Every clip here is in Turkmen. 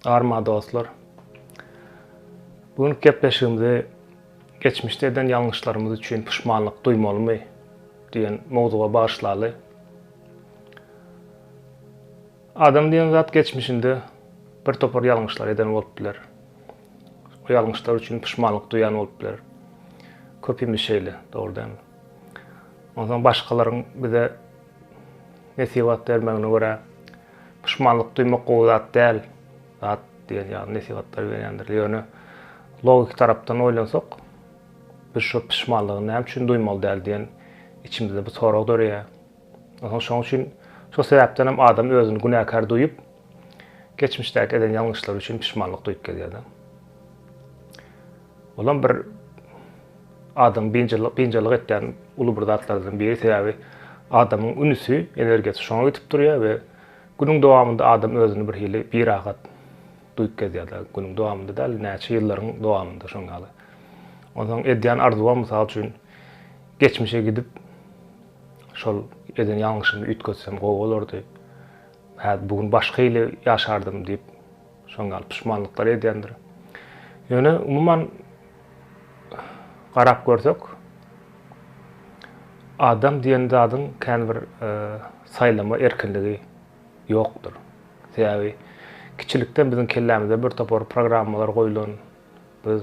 Arma dostlar. Bu günki gepleşigimizi geçmişde eden ýalňyşlarymyz üçin puşmanlyk duýmalymy diýen mowzuga bagyşlaly. Adam diýen zat geçmişinde bir topar ýalňyşlar eden bolup biler. Bu ýalňyşlar üçin puşmanlyk duýan bolup bileris. Köpimiz şeýle, dogry dälmi? Onsoň başgalaryň bize nesihat bermegine görä, puşmanlyk duýmak gowy zat däl, zat diýen ýaly nesihatlar berýändir. Ýöne logiki tarapdan oýlansak, biz şol puşmanlygy näme üçin duýmaly däl diýen içimizde bir sorag döreýär. Şonuň üçin şol sebäpden hem adam özüni günäkär duýup, geçmişdäki eden ýalňyşlary üçin pişmanlyk duýup gezýär-de. Olam bir adamyň biynjalyk biynjalyk etýän uly bir zatlardan biri, sebäbi adamyň ünsi, energiýasy şoňa gidip durýar we günüň dowamynda adam özüni bir hili birahat duýup gezýär-de, günüň dowamynda däl, näçe ýyllaryň dowamynda şoň ýaly. Onsoň edýän arzuwam, mysal üçin, geçmişe gidip, Şol eden ýalňyşymy üýtgetsem gowy bolardy. Häzir bu gün başga hili ýaşardym diýip, şoň ýaly puşmanlyklar edýändir. Ýöne umuman garap görsek, adam diýen zadyň kän bir saýlama erkinligi ýokdur. Sebäbi kiçilikden biziň kellämize birtopar programmalar goýlan, Biz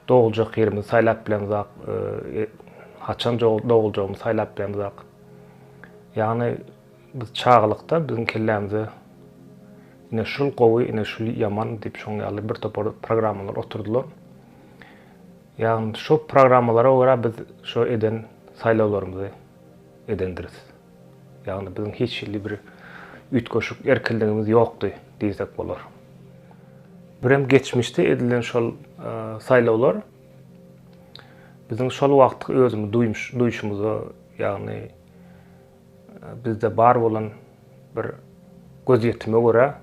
doguljak ýerimizi saýlap bilemzok, haçan doguljagymyzy saýlap bilemzok. Ýagny biz çagalykda biziň kellämize ine şul gowy, ine şul ýaman diýip şoň ýaly bir topar programmalar oturdylar. Ýagny şo programmalara görä biz şo eden saýlawlarymyzy edendiris. Ýagny biziň hiç hili bir üýtgeşik erkinligimiz ýokdy diýsek bolar. Birem geçmişde edilen şol saýlawlar biziň şol wagtky özümi duýuşymyza, ýagny bizde bar bolan bir gözýetime görä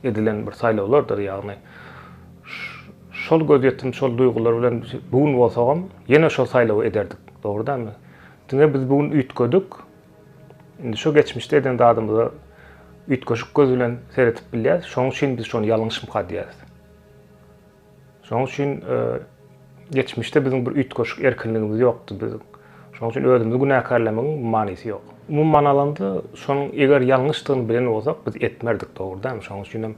edilen bir saýlawlardyr, ýagny şol gözýetim, şol duýgular bilen bu gün bolsagam ýene şol saýlawy ederdik, dogry dälmi? Diňe biz bu gün üýtgedik. Indi şo geçmişde eden zadymyza üýtgeşik göz bilen seredip bilýäris. Şonuň üçin biz şony ýalňyşmyka diýýäris. Şonuň üçin geçmişde biziň bir üýtgeşik erkinligimiz ýokdy biziň. Şonuň üçin özümizi günäkärlemegiň manysy ýok. Umuman alanda, şonuň eger ýalňyşdygyny bilen bolsak, biz etmerdik, dogry dälmi? Şonuň üçin hem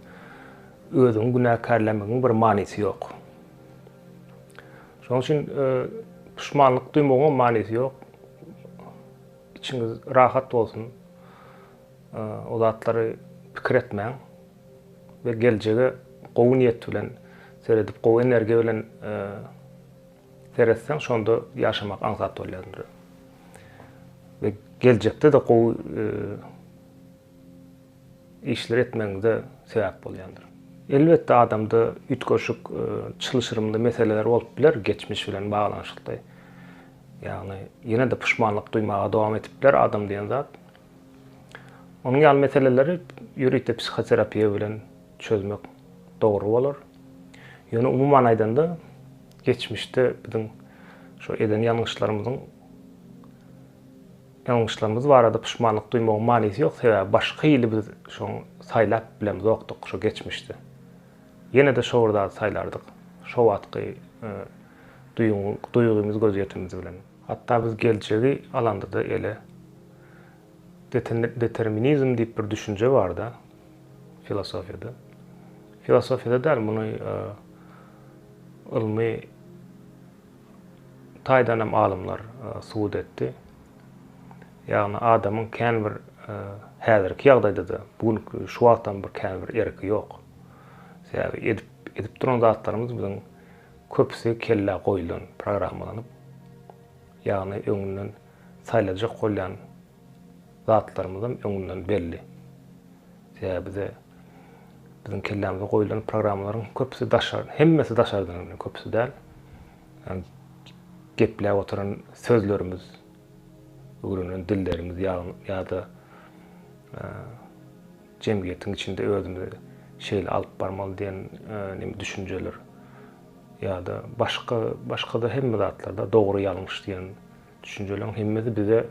özüňi günäkärlemegiň bir manysy ýok. Şonuň üçin e, puşmanlyk duýmagyň manysy ýok. Içiňiz rahat bolsun. E, o zatlary pikir etmäň we geljege gowy niýet bilen seredip, gowy energiýa bilen e, seretseň, şonda ýaşamak aňsat bolýar. Ve geljekde de gowy e, işleri etmegiňize sebäp bolýandyr. Elbetde adamda üýtgeşik çylşyrymly meseleler bolup biler, geçmiş bilen baglanyşykly. Ýagny ýene-de puşmanlyk duýmaga dowam edip biler adam diýen zat. Onuň ýaly meseleleri ýörite psihoterapiýa bilen çözmek dogry bolar. Ýöne umuman aýdanda, geçmişde biziň şo eden ýalňyşlarymyzyň Ýalňyşlarymyz barada puşmanlyk duýmagyň manysy ýok, sebäbi başga hili biz şoň saýlap bilemzokdyk şo geçmişde. Ýene-de şo bir zady saýlardyk, şo wagtky duýgyň duýgymyz gözýetimimiz bilen. Hatda biz geljegi alandada ele deterni determinizm diýip bir düşünje barda filosofiýada. Filosofiýada däl, muny ylmy. taýdan hem alymlar subut etdi. Ýagny adamyň kän bir häzirki ýagdaýda-da, bu gün şu wagtam bir kän bir erki ýok. Sebäbi edip edip duran zatlarymyz biziň köpüsi kellä goýlan, programmalanyp. Ýagny öňünden saýlajak bolýan zatlarymyzam öňünden belli. Sebäbi bize biziň kellämize goýulan programmalaryň köpüsi daşary, hemmesi daşardan gelýär, köpüsi däl. Ýagny gepläp oturan sözlerimiz, öwrenen dillerimiz ýa-da jemgyýetiň içinde özümizi şeýle alyp barmaly diýen näme düşünjeler ýa-da başga, başga-da hemme zatlarda dogry-ýalňyş diýen Düşünjeleriň hemmesi bize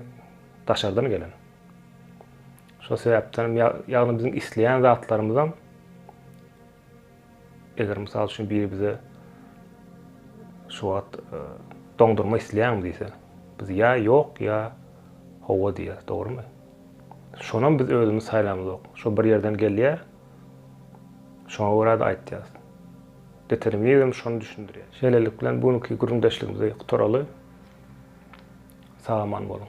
daşardan gelen. Şol sebäpden ýagny biziň isleýän zatlarymyzam eger mysal üçin biri bize şu wagt e, doňdurma isleýäňmi diýse, biz ýa ýok, ýa howa diýýär, dogrumy? Şonam biz özümiz saýlamyzok. Şo bir ýerden gelýär. Şoňa görä de aýtýarys. Determinizm şony düşündirýär. Şeýlelik bilen bu günki gürrüňdeşligimizi gutaraly. Sag aman boluň.